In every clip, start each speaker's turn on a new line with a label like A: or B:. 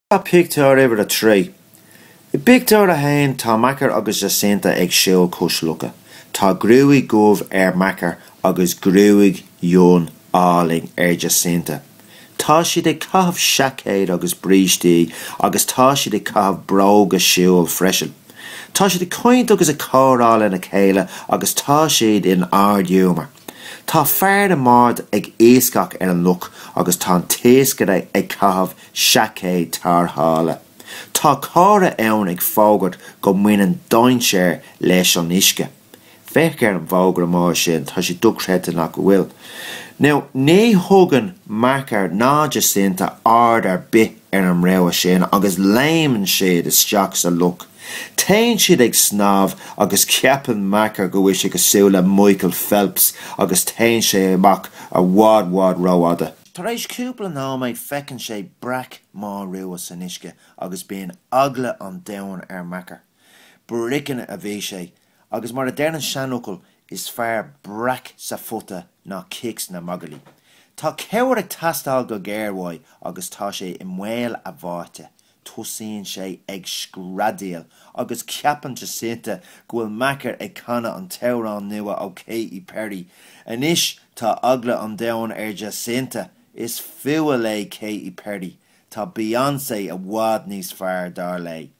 A: Sraith pictiúr uimhir a trí. I bpictiúr a haon tá Macker agus Jacinta ag siúl cois locha. Tá gruaig dhubh ar Macker agus gruaig fhionn álainn ar Jacinta. Tá siad ag caitheamh seaicéad agus brístí agus tá siad ag caitheamh bróga siúil freisin. Tá siad ag caint agus ag comhrá lena chéile agus tá siad in ardghiúmar. Tá fear i mbád ag iascach ar an loch agus tá an t-iascaire ag caitheamh seaicéad tárrthála. Tá comhartha ann ag fógairt go mbaineann dainséar leis an uisce. Féach ar an bhfógra mór sin, tá sé dochreidte nach bhfuil. Nó ní thugann Macker ná Jacinta aird ar bith ar an rabhadh sin agus léimeann siad isteach sa loch. Téann siad ag snámh agus ceapann Macker go bhfuil sé cosúil le Michael Phelps agus téann sé amach i bhfad i bhfad rófhada. Tar éis cúpla nóiméad feiceann sé breac mór rua san uisce agus bíonn eagla an domhain ar Macker. Brickin' a bhí sé Agus mar a deir an seanfhocal is fearr breac sa phota ná cic sna magairlí. Tá cabhair ag teastáil go géar uaidh agus tá sé i mbaol a bháite. Tosaíonn sé ag screadaíl agus ceapann Jacinta go bhfuil Macker ag canadh an t-amhrán nua ó Katy Perry. Anois tá eagla an domhain ar Jacinta. Is fuath léi Katy Perry. Tá Beyoncé i bhfad níos fearr dar léi.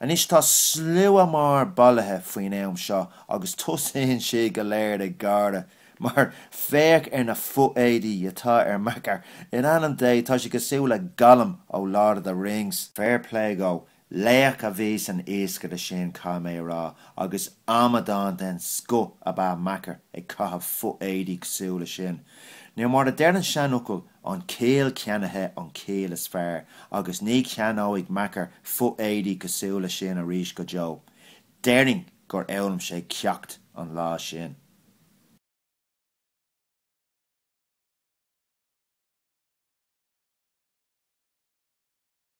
A: Anois tá slua mór bailithe faoin am seo agus tosaíonn siad go léir ag gáire mar féach ar na fo-éadaí atá ar Macker, in ainm Dé tá sé cosúil le Gollum ó Lord of the Rings! Fair play dhó, laoch a bhí san iascaire sin caithfidh mé a rá agus amadán den scoth ab ea Macker ag caitheamh fo-éadaí cosúil leis sin. Nó mar a deir an seanfhocal an chiall cheannaithe an chiall is fearr agus ní cheannóidh Macker fo-éadaí cosúil le sin arís go deo. Déarfainn gur fhoghlaim sé ceacht an lá sin.